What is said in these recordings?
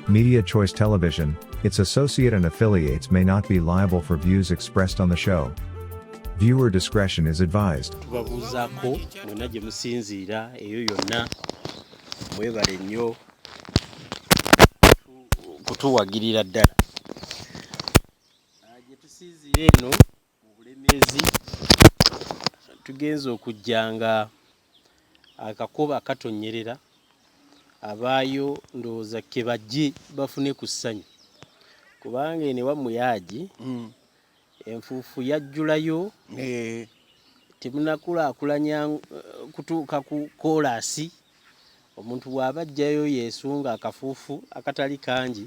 Media Choice Television, its associate and affiliates may not be liable for views expressed on the show. Viewer discretion is advised. tubabuuzaako mwena gye musinziira eyo yonna mwebale nnyo kutuwagirira ddala Ah, gye tusinziira eno mu Bulemeezi tugenze okujja nga akakuba akatonnyerera abaayo ndowooza ke bajje bafune ku ssanyu kubanga eno ewammwe yaagi mm. enfuufu yajjulayo eh. temunakulaakulanya eh, kutuuka ku koolaasi omuntu bw'aba ajjayo yeesunga akafuufu akatali kangi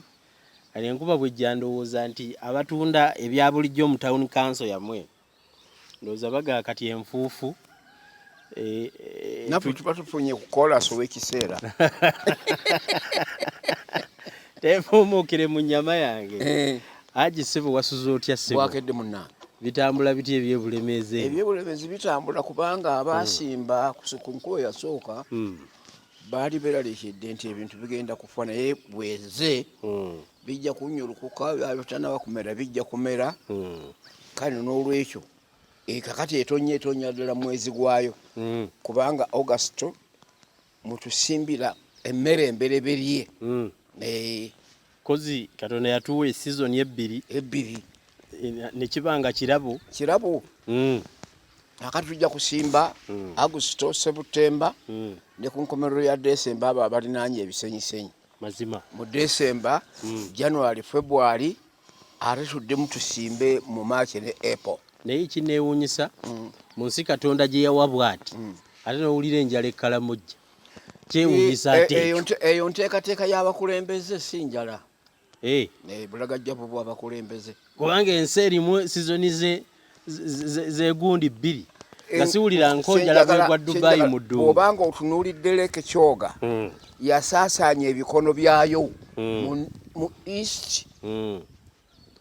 Kale enkuba bwejja ndowooza nti abatunda ebya bulijjo mu town council yamwe ndowooza bagaa kati enfuufu eh, eh, naffe tuba tufunye kukola soba ekiseera tefuumuukire mu nyama yange eh. aji sebo wasuza otya sebo bwakedde munange bitambula bitya ebyebulemeezi ebyebulemeezi bitambula kubanga abaasimba hmm. ku nkuba yasooka hmm. baali beralikidde nti ebintu bigenda kufa naye bweze hmm. bijja kunyulukuka byabitanaba kumera bijja kumera hmm. kale n'olwekyo ekakati eh, etonya etonya ddala mwezi gwayo hmm. kubanga augusto mutusimbira emmere embereberye eh, kozi katonda yatuwa esizoni ebbiri ebbiri eh, nekibanga kirabo kirabo mm. akati tujja kusimba mm. agusito sebutemba mm. ne ku nkomerero ya desemba abo abalinaanye ebisenyisenyi mazima mu desemba mm. january february ate tuddemu tusimbe mu maaci ne apple naye ekinewunyisa mm. mu nsi katonda gye yawa bwati mm. ate nowulira enjala ekkalamujja kyewunyisa e, ate eyo nteekateeka y'abakulembeze si njala eh. eh, bulagajja bwo bwabakulembeze kubanga ensi erimu sizoni zegundi bbiri nga siwulira nkonjala bwegwa dubayi mu ddungu obanga otunuulidde leke kyoga hmm. yasaasaanya ebikono byayo hmm. mu east hmm.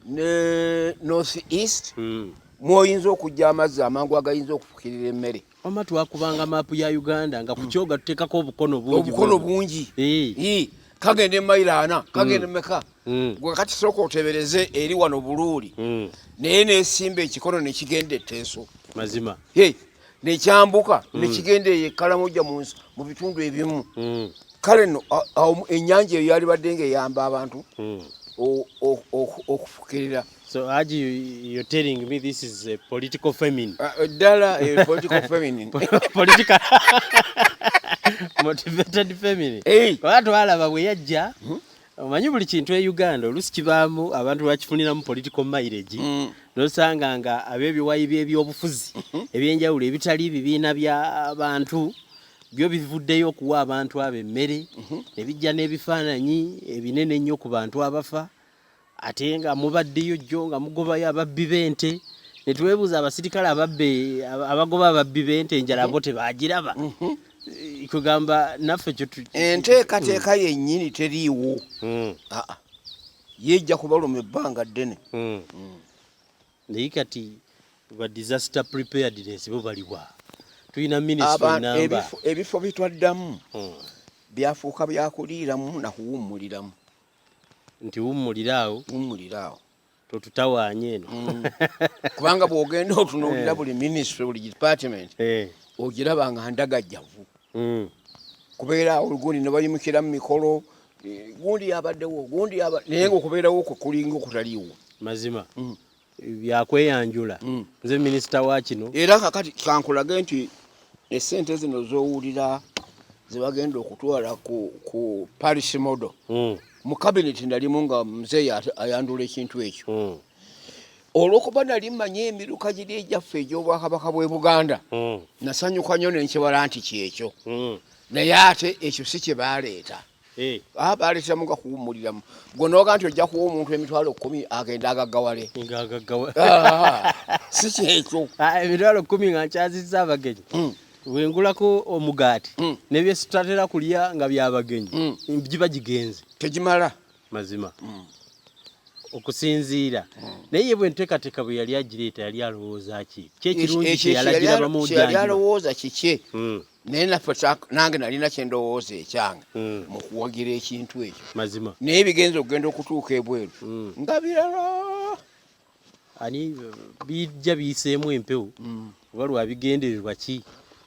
ne north east hmm. mwoyinza okujja amazzi amangu agayinza okufukirira emmere wama twakubanga maapu ya uganda nga kukyoga tutekako obukono bungibukono bungi eh. kagenda emayiro ana hmm. kagenda meka hmm. gwe kati sooka otebereze eri wano buluuli naye nesimba ekikono nekigenda eteeso mazima nekyambuka mm. nekigenda eyo ekalamoja mu bitundu ebimu mm. kale no enyanja eyo yali badde nga eyamba abantu mm. okufukirira So Haji, you, you're telling me this is a political famine. Uh, uh Dala, a political famine. political motivated famine. Hey. Watu wala bawe yajja. Hmm? omanyi buli kintu e uganda olusi kibaamu abantu bakifuniramu political mileage mm. nosanga nga ab'ebiwayi by'ebyobufuzi mm-hmm. ebyenjawulo ebitali bibiina bya bantu byo bivuddeyo okuwa abantu abo emmere mm-hmm. ne bijja n'ebifaananyi ebinene ennyo ku bantu abafa ate nga mubaddeyo jjo nga mugobayo ababbi b'ente ne twebuuza abasirikale ababbe abagoba ababbi b'ente enjala bo mm-hmm. tebaagiraba kugamba naffe enteekateeka yennyini teriiwo hmm. ah, ah. yeejja kubaluma ebbanga ddene hmm. Hmm. naye kati ba disaster preparedness bo baliwa tulina minisitrinamba ebifo bitwaddamu byafuuka byakuliiramu nakuwummuliramu nti wummuliraawo wummuliraawo totutawaanya eno mm. kubanga bw'ogenda otunuulira eh. buli minisitule buli department eh. ogiraba nga ndagajjavu mm. kubeera olugundi ne bayimukira mu mikolo eh, gundi yabaddewo gundi naye nga okubeerawo kwe kulinga okutaliwo mazima mm. byakweyanjula nze minisita wa kino era kakati kankulage nti esente zino zowulira zebagenda okutwala ku, ku paris model mm. mu cabinet nalimu nga mzeyi ayandula ekintu ekyo mm. olwokuba nali manyi emiruka giri egyaffe egyobwakabaka bwe buganda mm. nasanyuka nyo nenkibala nti kyekyo mm. naye ate ekyo si kyebaleeta Eh. Ah, baleteramu nga kuwummuliramu gwe noga nti ojja kuwa omuntu emitwalo kumi agenda agaggawale ah, si kyekyo ah, emitwalo kumi nga nkyazizza abagenyi hmm. wengulako omugaati hmm. nebyesitatera kulya nga byabagenyi hmm. giba gigenze tegimala mazima okusinziira naye bwe nteekateeka bwe yali agireeta yali alowooza ki kyekirungi kyeyalagirabamudyalowooza kikye naye naffe nange nalina kyendowooza ekyange hmm. mu kuwagira ekintu ekyo mazima naye bigenza okugenda okutuuka ebweru hmm. nga birala ani bijja biyiseemu empewo hmm. oba lwabigendererwa ki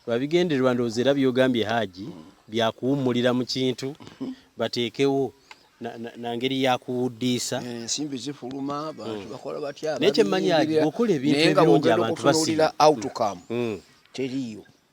lwabigendererwa ndowooza era byogambye haaji byakuwummulira mu kintu bateekewo na ngeri ya kuwuddiisa eh, ensimbi zifuluma abantu bakola batya naye kyemmanyi aji okola ebintu ebirungi abantu basiba outcome teriyo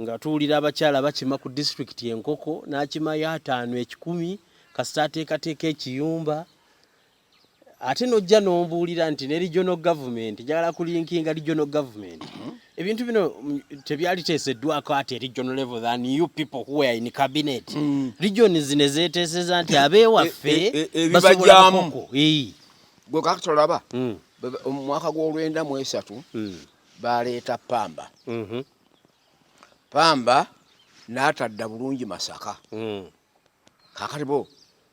nga tuwulira abakyala bakima ku disitulikiti enkoko n'akimayo ataano ekikumi kasita ateekateeka ekiyumba ate n'ojja n'ombuulira nti ne regional government njagala kulinkinga regional government mhm. ebintu bino mm, tebyali teeseddwako ati e regional level than you people who are in cabinet mm. region zino ezeeteeseza nti abeewaffe e, e, e, basobolamuko gwe kakati olaba mm. omwaka gw'olwenda mu esatu baleeta pamba mhm. pamba n'atadda bulungi masaka hmm. kakati bo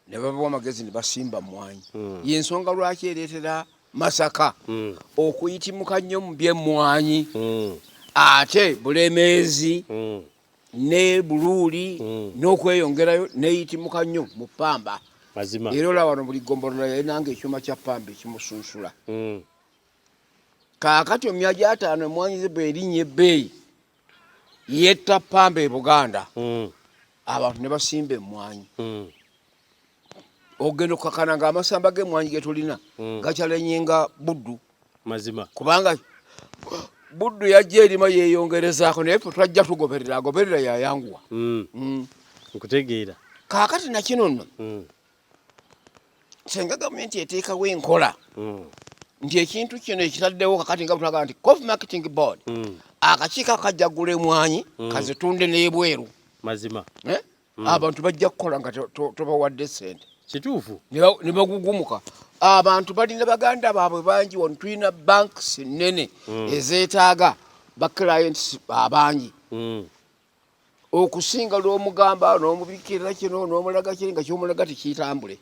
ne babawa amagezi ne basimba mmwanyi hmm. yensonga lwaki ereetera masaka hmm. okuyitimuka nnyo mu byemmwanyi ate bulemeezi ne buluuli n'okweyongerayo neyitimuka nnyo mu pamba mazima era olaba wano buli gombolola yalinanga ekyuma kya pamba ekimusunsula mm. kaakati omya gyataano emwanyi ze bwerinnya ebbeeyi yetta pamba e buganda hmm. abantu ne basimba emwanyi hmm. ogenda okukakana nga amasamba gemwanyi getulina hmm. gakyalenye nga buddu mazima kubanga buddu yajja erima yeyongerezaako naye fe twajja tugoberera agoberera yayanguwa nkutegeera kaakati nakino nno senga gavumenti eteekawo enkola hmm. nti ekintu kino ekitaddewo kakati nga butulaga nti cof marketing board hmm. akakiiko akajjagula emwanyi hmm. kazitunde n'ebweru mazima eh? abantu bajja kukola nga tobawadde sente kituufu ne bagugumuka abantu balina baganda baabwe bangi wano tulina banks nene ezeetaaga ba clients abangi okusinga lwomugamba nomubikirira kino nomulaga kiri nga kyomulaga tikitambule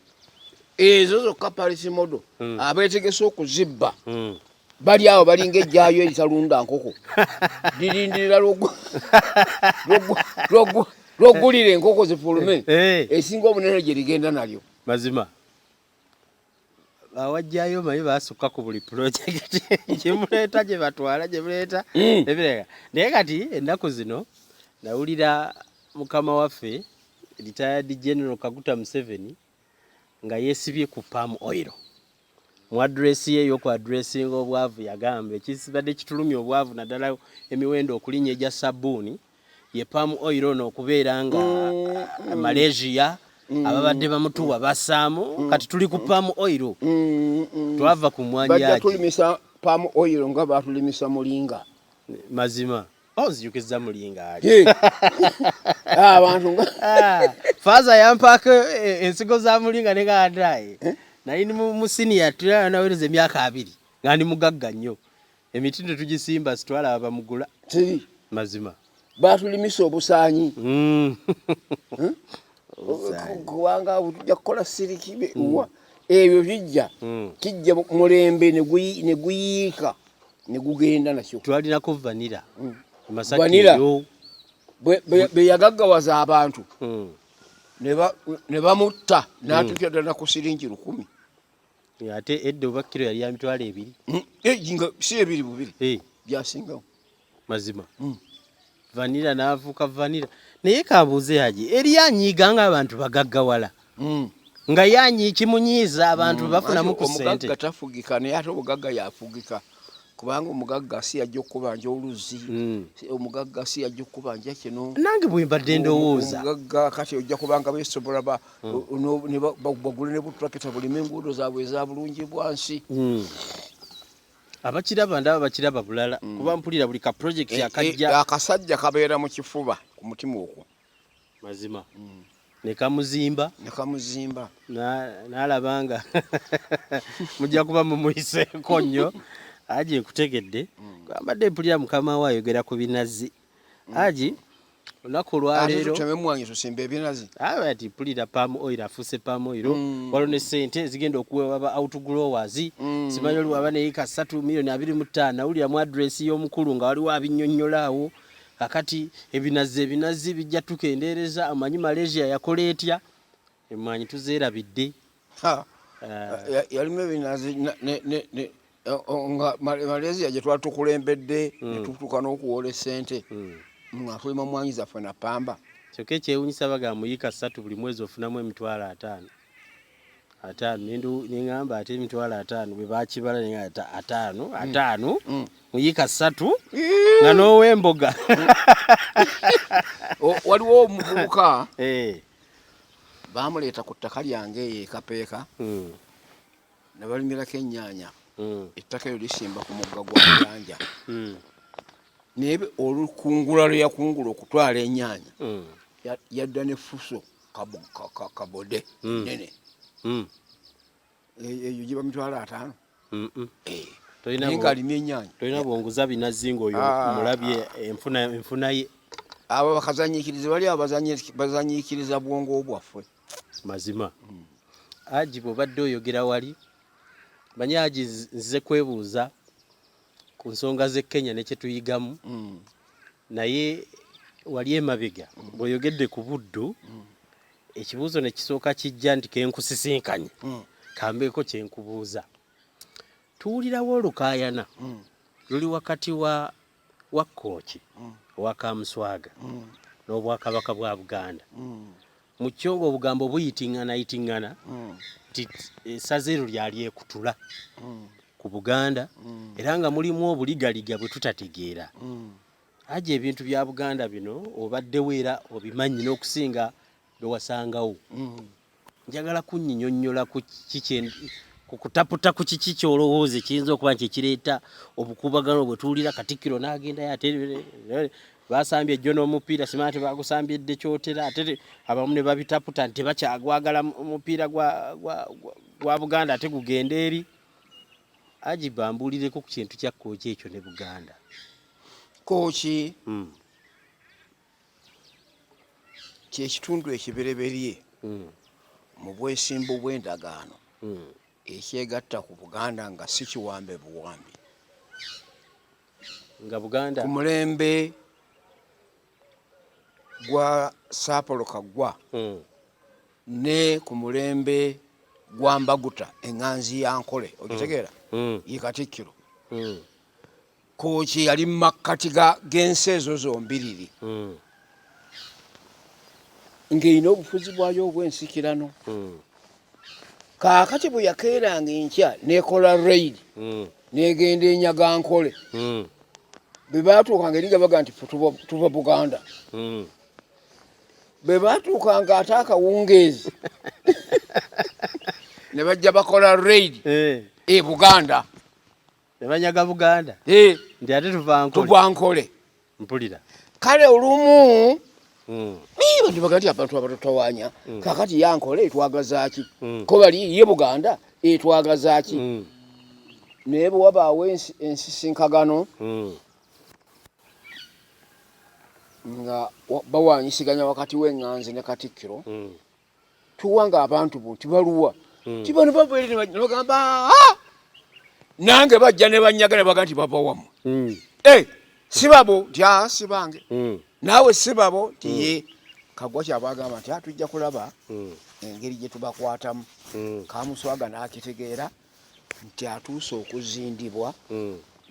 ezo zokka palisi modo hmm. abetegese okuzibba hmm. bali awo balinga ejjayo eritalunda nkoko lirindirira lwogulira enkoko zifulume eh, eh. esinga omunene gyerigenda nalyo mazima bawajjayo omanyi basukka ku buli pulojekiti gyemuleeta gye batwala gye muleeta hmm. ebireka naye kati ennaku zino nawulira mukama waffe retired general kaguta museveni nga yesibye ku palm oil mu adresi ye eyoku adressinga obwavu yagamba ekibadde kitulumya obwavu naddala emiwendo okulinya egya sabbuuni ye palm oil ono okubeera nga mm. Malaysia mm. ababadde bamutuwa basaamu mm. kati tuli ku palm oil twava ku mwanyaki tulimisa palm oil nga batulimisa mulinga mazima oh, nzijukizza mulinga ali ah, abantu nga ah, faaza yampaako eh, ensigo za mulinga ne gaadaye eh? nali mu siniya tulala nawereza emyaka abiri nga ndi mugagga nnyo Emiti tetugisimba sitwala abamugula. Teri. Mazima. Batulimisa obusaanyi. Mm. Hmm? Kubanga tujja kukola siriki hmm. wa ebyo bijja hmm. kijja mulembe ne guyiika ne gugenda nakyo. Twalinako vanira. Vanira bwe yagaggawaza abantu ne bamutta n'atuuka ddala ku siringi lukumi. ate edda oba kiro yali ya mitwalo ebiri hmm. eh, nga si ebiri bubiri eh. byasingawo mazima hmm. vanira n'avuka vanira naye kabuuze yaje eri anyiiga ng'abantu bagaggawala hmm. nga yanyi kimunyiiza abantu bafunamu ku sente omugagga tafugika naye ate obugagga yafugika kubanga omugagga si yajja okukubanja oluzzi hmm. omugagga si yajja okukubanja kino nange bwembadde ndowooza omugagga kati ojja kubanga besobola hmm. bagule ne butrakita bulima enguudo zaabwe eza bulungi bwansi hmm. abakiraba ndaba bakiraba bulala kuba mpulira buli ka project eh, eh, akajja akasajja kabeera mu kifuba ku mutima okwo mazima mm. nekamuzimba nekamuzimba nalaba na nga mujja kuba mumuyiseeko nnyo aji nkutegedde mm. ambadde mpulira mukama we ayogera ku binazi mm. aji olunaku olwaleeroati pulira pam oil afuuse pam oil mm. waliwo ne sente ezigenda okuweebwa ba outgrowers mm. simanyi oliwaba naye ka satu milioni abiri mu ttaano awulira mu adresi y'omukulu nga waliwo abinyonyola awo mm. kakati ebinazi ebinazi bijja tukendeereza amanyi malaysia yakola etya emwanyi tuzeerabidde eh, yalimu ebinazi nga malaysia gye twatukulembedde hmm. netutuuka n'okuwoola esente hmm. nga tulima mwanyi zaffe na pamba kyokka ekyewunyisa baga muyika ssatu buli mwezi ofunamu emitwalo ataano ataano nengamba ate emitwalo ataano bwe bakibala nengata ataano mm. ataano mm. muyika ssatu nga n'owemboga waliwo omuvubuka eh. bamuleeta ku ttaka lyange eyo ekapeeka mm. nabalimirako ennyaanya ettaka eryo lisimba ku mugga gwa muyanja naye olukungula lwe yakungula okutwala ennyaanya yadda ne fuso kabode mm. nene mm. e, e, eyo giba mitwalo ataano eh. alina enyanya tolina bwonguza binazi ngaoyo ah. mulabye enfuna ye abo bakazanyikiriza bali abo bazanyikiriza bwongo bwaffe mazima mm. aji bwobadde oyogera wali manye aji nzize kwebuuza ku nsonga z'e Kenya ne kye tuyigamu mm. naye wali emabega mm. bw'oyogedde ku Buddu mm. ekibuuzo ne kisooka kijja nti ke nkusisinkanye mm. kambeeko kye nkubuuza tuwulirawo olukaayana mm. luli wakati wa wa Kkooki mm. owa Kamuswaga mm. n'Obwakabaka bwa Buganda mm. mu kyo ng'obugambo buyiting'anayiting'ana mm. nti essaza eryo lyali ekutula mm. ku buganda mm. era nga mulimu obuligaliga bwe tutategeera aja ebintu bya buganda bino obaddewo era obimanyi n'okusinga bwe wasangawo njagala kunyinyonnyola ku kiki ku kutaputa ku kiki kyolowooza ekiyinza okuba nti ekireeta obukuubagano bwe tuwulira katikkiro n'agendayo ate basambye ejjo n'omupiira simanya tebagusambye dde kyotera ate abamu ne babitaputa nti tebakyagwagala omupiira gwa buganda ate gugenda eri ajiba mbuulireko ku kintu kya kooki ekyo ne buganda kooki hmm. kyekitundu ekibereberye hmm. mu bwesimbu bw'endagaano hmm. ekyegatta ku buganda nga si kiwambe buwambi nga buganda ku mulembe gwa saapolo kaggwa hmm. ne ku mulembe gwa mbaguta eŋŋanzi ya nkole ogitegeera hmm. hmm. ye katikkiro kooki yali mu makkati g'ensi ezo zombiriri hmm. ng'erina obufuzi bwayo obw'ensikirano hmm. kaakati bwe yakeeranga enkya n'ekola reyidi hmm. n'egenda enyaga nkole bwe baatuukanga eri nga baga nti tuva buganda bwe baatuukanga ate akawungeezi ne bajja bakola reyidi eh. e buganda ne banyaga buganda eh. nti ate tuvankole mpulira kale olumu hmm. ndibaga nti abantu abatutawanya hmm. kakati yankole etwagazaki hmm. ko bali ye buganda etwagazaki naye bwewabaawo ensisinkagano nga bawanyisiganya wakati w'eŋŋanzi ne katikkiro tuwanga abantu bo nti baluwa hmm. ti bano bava eri nebagamba ah! nange bajja ne banyaga ne baga nti bava wamu hmm. eh, sibabo nti a ah, sibange hmm. naawe sibabo nti ye kagwa kyabagamba nti atujja ah, kulaba engeri gye tubakwatamu kamuswaga n'akitegeera nti atuuse okuzindibwa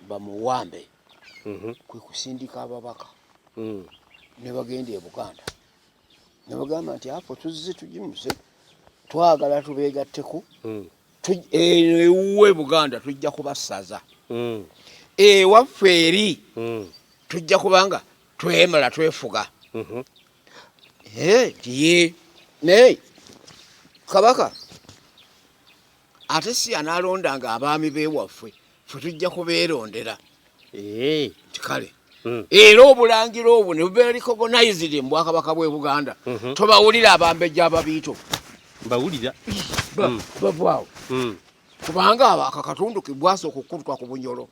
bamuwambe mhm. kwe kusindika ababaka ne bagenda e buganda ne bagamba nti apo tuzze tugimuze twagala tubeegatteko hmm. eno ewuwe buganda tujja kubasaza hmm. ewaffe eri hmm. tujja kubanga twemala twefuga mhm. eh, ye naye kabaka ate si yanaalondanga abaami b'ewaffe ffe tujja kubeerondera eh. nti kale hmm. era obulangira obwo ne bubeera likogonizidi mu bwakabaka bw'e buganda mhm. tobawulira abambejja ababiito bawulira hmm. bavwawo hmm. kubanga ako akatundu kebwasooka okukutuka ku bunyolo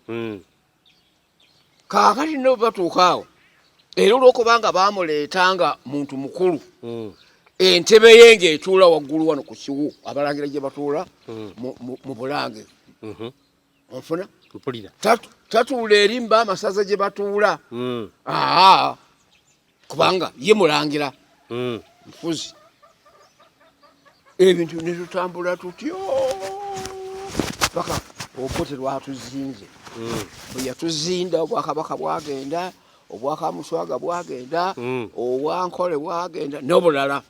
kaakati no batuuka awo era olwokubanga baamuleeta nga muntu mukulu hmm. entebe ye ng'etuula waggulu wano ku kiwu abalangira gye batuula hmm. mu bulange mhm. onfuna tatuula eri mba amasaza gye batuula hmm. aa kubanga ye mulangira mm. nfuzi ebintu netutambula tutyo paka obote lwatuzinze mm. bweyatuzinda obwakabaka bwagenda obwakamuswaga bwagenda mm. obwankole bwagenda nobulala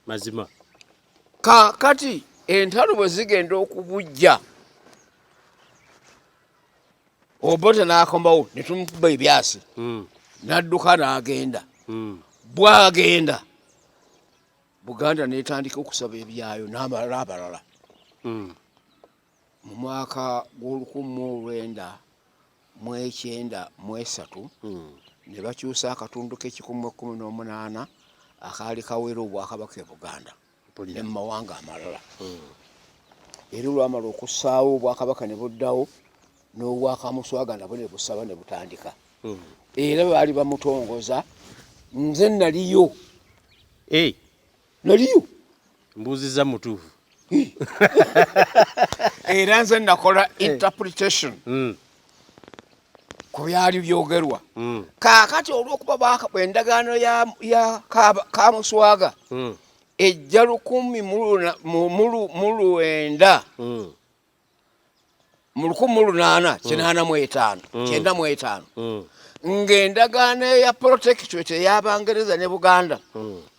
mazima kakati entalo bwezigenda okubujja obote n'akomawo ne tumukuba ebyasi hmm. n'adduka n'agenda hmm. bwagenda buganda n'etandika okusaba ebyayo n'amalala abalala hmm. mu mwaka gw'olukumi mu olwenda mu ekyenda mu esatu ne bakyusa akatundu k'ekikumi mu ekkumi n'omunaana akaali kawera obwakabaka e buganda ne mu mawanga amalala era olwamala okussaawo obwakabaka ne buddawo n'obwakamuswaga nabwo ne busaba ne butandika hmm. era baali bamutongoza nze naliyo eh. naliyo mbuuziza mutuufu era nze nakola eh. interpretation hmm. ku byali byogerwa hmm. kaakati olw'okuba baakaba endagaano ya kamuswaga hmm. ejja lukumi mu lwenda hmm. mu lukumi mu lunaana kinaana mu etaano kyenda mu etaano ng'endagaano eya protectorate ey'abangereza ne buganda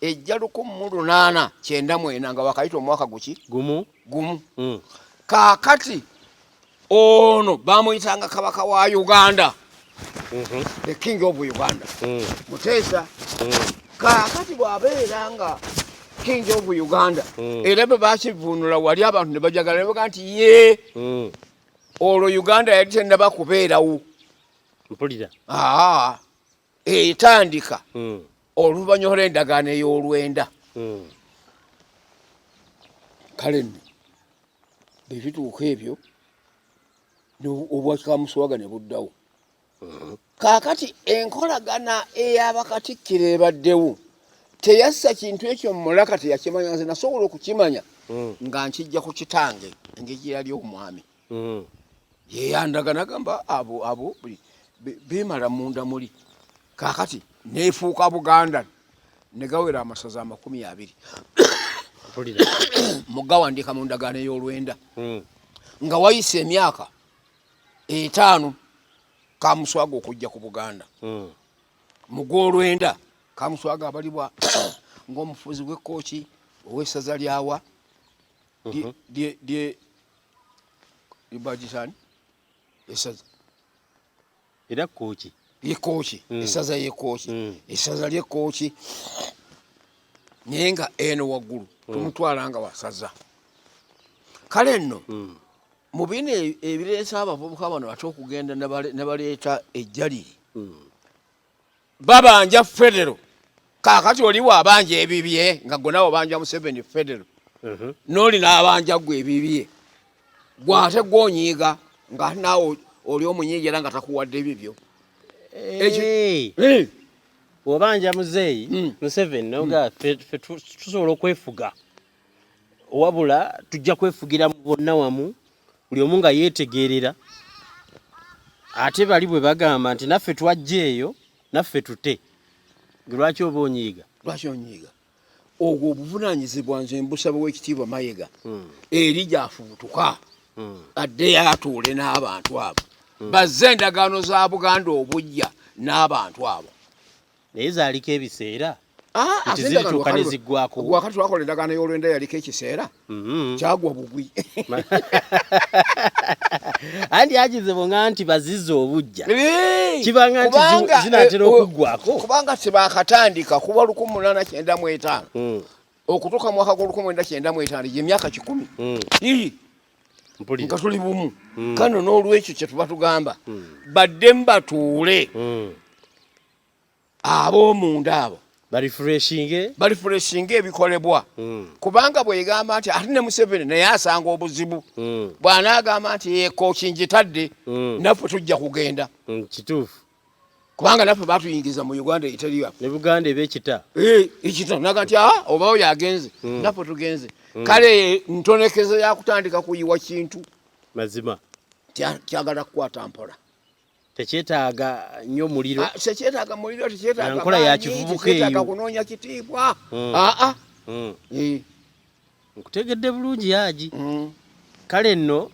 ejja lukumi mu lunaana kyenda mwena nga wakayita omwaka guki gumu gumu kaakati ono bamuyitanga kabaka wa uganda mhm. the king of uganda mm. muteesa mm. kakati bwabeera nga king of uganda mm. era bwe bakivunula wali abantu ne bajagala nebaga nti ye olwo uganda yali tenaba kubeerawo mpulira etandika hmm. oluvanyuma lw'endagaano ey'olwenda hmm. kale nno bwe bituuka ebyo obwakikamusuwaga ne buddawo hmm. kaakati enkolagana ey'abakatikkiro ebaddewo teyassa kintu ekyo mumulaka teyakimanya nze nasobola okukimanya nga nkijja ku kitange engeri yali omwami mm. yeyandaga nagamba abo abo bimala munda muli kakati nefuuka buganda negawera amasaza amakumi abiri mugawandika mu ndagaano ey'olwenda hmm. nga wayise emyaka etaano kamuswaga okujja ku buganda hmm. mu gwolwenda kamuswaga abalibwa ng'omufuzi w'ekkooki ow'essaza lyawa lye libagizani esaza era kooki lyekooki mm. esaza yekooki mm. esaza lyekooki naye nga eno waggulu mm. tumutwala nga wasaza kale nno mu bino e, ebireesa abavubuka bano ate okugenda nebaleeta ejjaliri babanja federo kakati oli wabanja ebibye nga gwe nawe obanja museveni federo mhm. noli nabanja gwe ebibye gwe ate gwonyiiga nga ate nawe oli omunyiigi era nga takuwadde ebibyo eh. obanja muzeeyi hmm. museveni noga hmm. fe tusobola okwefuga wabula tujja kwefugira mu bonna wamu buli omu nga yeetegeerera ate bali bwe bagamba nti naffe twajja eyo naffe tute lwaki oba onyiiga lwaki onyiiga ogwo obuvunanyizibwa nze mbusaba wekitiibwa mayega hmm. eri gyafubutuka hmm. adde yatuule n'abantu abo hmm. bazze endagaano za buganda obujja n'abantu abo naye zaaliko ebiseera ah, zirituuka ne ziggwako wakati wakola endagaano y'olwenda yaliko ekiseera mm-hmm. kyagwa bugwi andi agizibu nga nti baziza obujja kibanga nti zinatera eh, oh, okuggwako kubanga tebakatandika kuba lukumu munana kyenda mu etaano mm. okutuuka mu mwaka gw'olukumu mwenda kyenda mu etaano gyemyaka kikumi mm. nga tuli bumu mm. kano n'olwekyo kyetuba tugamba baddemu batuule ab'omunda abo balifureshinge ebikolebwa hmm. kubanga bwegamba nti ate ne museveni naye asanga obuzibu hmm. bwanaagamba nti ekooki njitadde hmm. naffe tujja kugenda kituufu kubanga naffe batuyingiza mu uganda eteri yaffe ne buganda eba ekita eh, ekita naga nti aa ah, oba oyo agenze naffe tugenze kale ntonekeze yakutandika kuyiwa kintu mazima kyagala kukwata mpola tekyetaaga nnyo muliro ah, tekyetaaga muliro tekyetaaga nkola ya kivubuka eyo kunoonya kitiibwa aa hmm. ah, ah. hmm. eh. nkutegedde bulungi yaji hmm. kale nno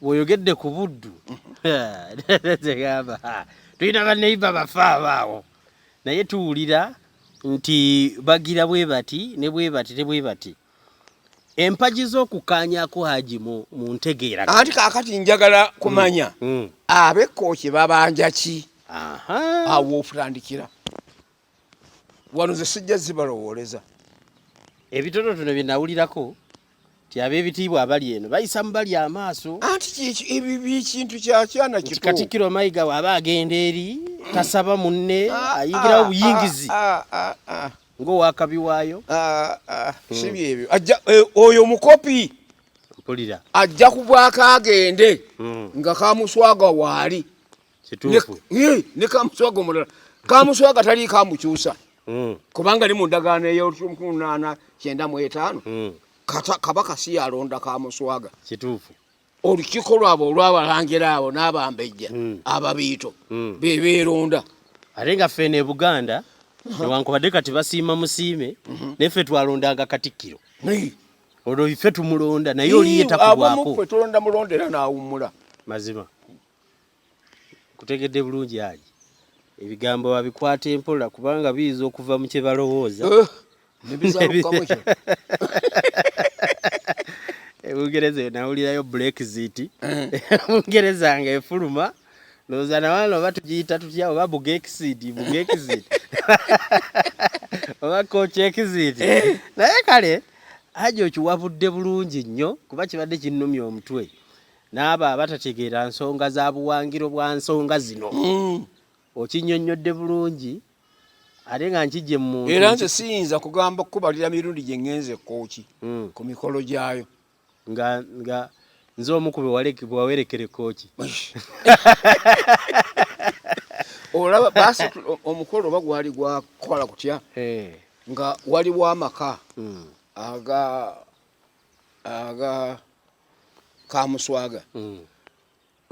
woyogedde ku buddu tegamba tulina baneiba bafa abaawo naye tuwulira nti bagira bwe bati ne bwe bati ne bwe bati empagi z'okukaanyako haji mu ntegeera anti kakati njagala kumanya mm, mm. abekkooki babanja ki awo ofutandikira wano ze sijja zibalowooleza ebitonotono bye nawulirako ti ab'ebitiibwa abali eno bayisa mu bali amaaso anti ekintu kyakyana kito katikkiro mayiga waaba agenda eri tasaba munne ah, ayingirawo ah, buyingizi ah, ng'owakabi waayo ah, ah, hmm. si byebyo eh, oyo mukopi mpulira ajja kubwako agende hmm. nga kamuswaga waali eh, ne kamuswaga omulala kamuswaga tali kamukyusa hmm. kubanga li mu ndagaano eyolunaana kyenda mu etaano kabaka si yalonda kamuswaga kituufu olukiiko lwabwe olw'abalangira abo n'abambejja hmm. ababiito hmm. be beeronda ate nga ffe ne buganda newankubadde kati basiima musiime mhm. naye ffe twalondanga katikkiro olwo ife tumulonda naye oliye takubwako abamu ffe tulonda mulondera n'awummula mazima kutegedde bulungi ali ebigambo babikwata empola kubanga biyinza okuva mu kye balowooza eh, ebungereza eyo nawulirayo brexit bungereza eh. nga efuluma ndowooza nawana oba tugiyita tutya oba bugexit bugexit oba kochexit eh. naye kale haji okiwabudde bulungi nnyo kuba kibadde kinnumya omutwe n'abo abatategeera nsonga za buwangiro bwa nsonga zino mm. okinyonnyodde bulungi ate nga nkijje mu era nze siyinza kugamba kukubalira mirundi gye ŋŋenze ekkooki mm. ku mikolo gyayo nga nga nze omu ku bewawerekera ekkooki olaba basi omukolo oba gwali gwakukola kutya eh. nga waliwo amaka mm. aga aga kamuswaga mm.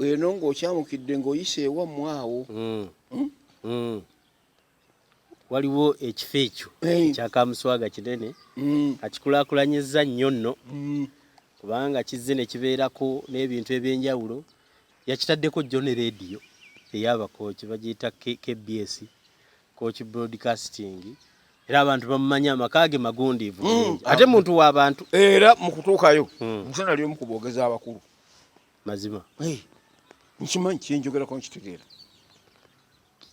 eno ng'okyamukidde ng'oyise ewammwe awo mm. mm? mm. waliwo ekifo ekyo ekyakamuswaga kinene mm. akikulakulanyizza nnyo nno mm. kubanga kizze ne kibeerako n'ebintu eby'enjawulo yakitaddeko jjo ne leediyo ey'abakooki bagiyita kbs Coach Broadcasting era abantu bamumanya amaka ge magundiivu mm, ate muntu wa bantu era mu kutuukayo mm. nze nali omu ku boogezi abakulu mazima hey, nkimanyi kyenjogerako nkitegeera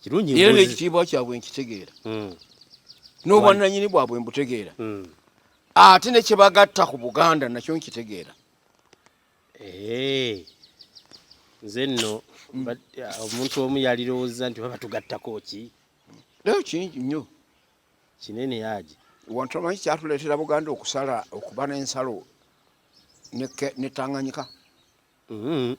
kirungi era n'ekitiibwa kyabwe nkitegeera mm. n'obwannanyini bwabwe mbutegeera mm. ate ne kye bagatta ku buganda nakyo nkitegeera Eee, nze nno omuntu omu yalirowooza nti baba tugattako ki nayo kingi nnyo kinene yaji wantu amanyi kyatuleetera buganda okusala okuba n'ensalo netanganyika mm-hmm.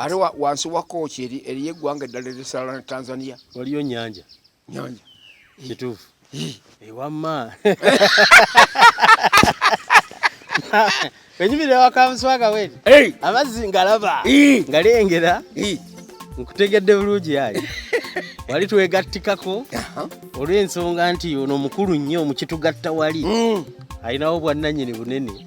ate wansi wa kooki eriyo eggwanga eddala erisala ne tanzania waliyo nyanja Nyonya. Kitufu. Ewamma. Wenyimire wakamuswaga weli. Hey. Amazzi ngalaba. Ngalengera. Nkutegedde bulungi yayi. Wali twegattikako olw'ensonga nti ono mukulu nnyo mukitugatta wali mm. alinawo bwannanyini bunene